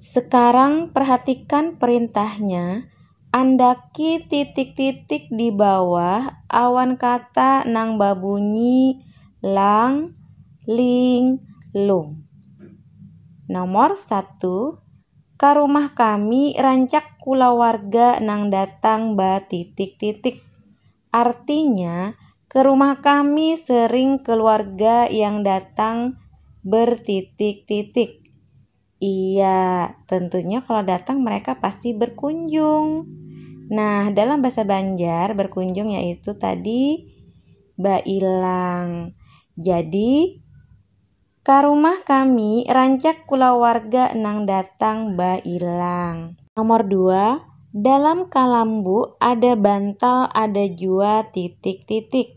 Sekarang perhatikan perintahnya, andaki titik-titik di bawah awan kata nang babunyi lang, ling, lung. Nomor satu, Ka rumah kami rancak kulawarga nang datang ba titik-titik. Artinya, ke rumah kami sering keluarga yang datang bertitik-titik. Iya, tentunya kalau datang mereka pasti berkunjung. Nah, dalam bahasa Banjar, berkunjung yaitu tadi bailang. Jadi, ka rumah kami rancak kulawarga nang datang bailang. Nomor dua, dalam kalambu ada bantal ada jua titik-titik.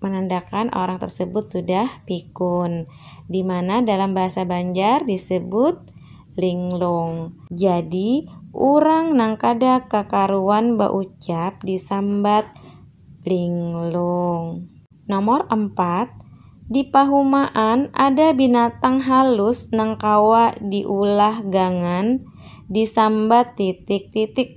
Manandakan orang tersebut sudah pikun, di mana dalam bahasa Banjar disebut linglung. Jadi, urang nang kada kakaruan baucap disambat linglung. Nomor empat, Di pahumaan ada binatang halus nang kawa diulah gangan disambat titik-titik.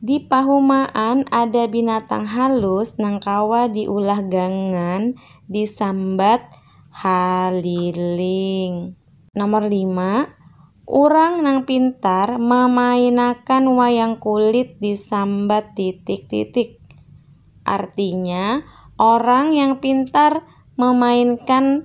Di pahumaan ada binatang halus nang kawa diulah gangan disambat haliling. Nomor lima, urang nang pintar mamainakan wayang kulit disambat titik-titik. Artinya, orang yang pintar memainkan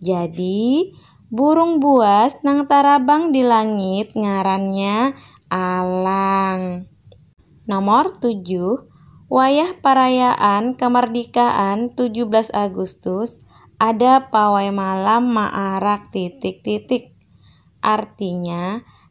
Jadi, burung buas nang tarabang di langit ngarannya alang. Nomor tujuh, wayah parayaan kamardikaan tujuh belas Agustus ada pawai malam maarak titik-titik. Artinya,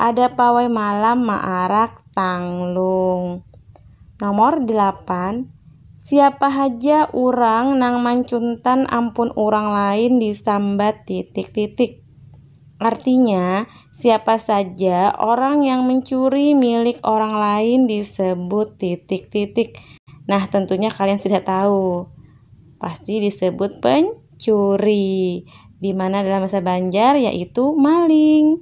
Ada pawai malam maarak tanglung. Nomor delapan, Siapa haja urang nang mancuntan ampun urang lain disambat titik titik. Artinya, siapa saja orang yang mencuri milik orang lain disebut titik titik. Nah, tentunya kalian sudah tahu. Pasti disebut pencuri. Di mana dalam bahasa Banjar yaitu maling.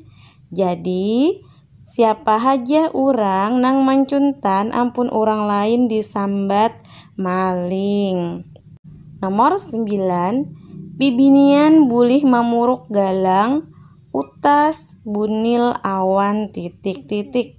Jadi, siapa haja orang nang mancuntan ampun orang lain disambat maling. Nomor sembilan, bibinian bulih mamuruk galang, utas, bunil, awan, titik-titik.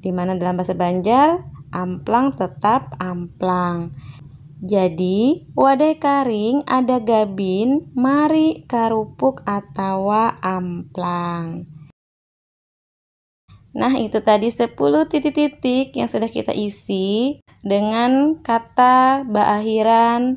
Di mana dalam bahasa Banjar amplang tetap amplang. Jadi, wadai karing ada gabin mari karupuk atawa amplang. Nah, itu tadi 10 titik-titik yang sudah kita isi dengan kata beakhiran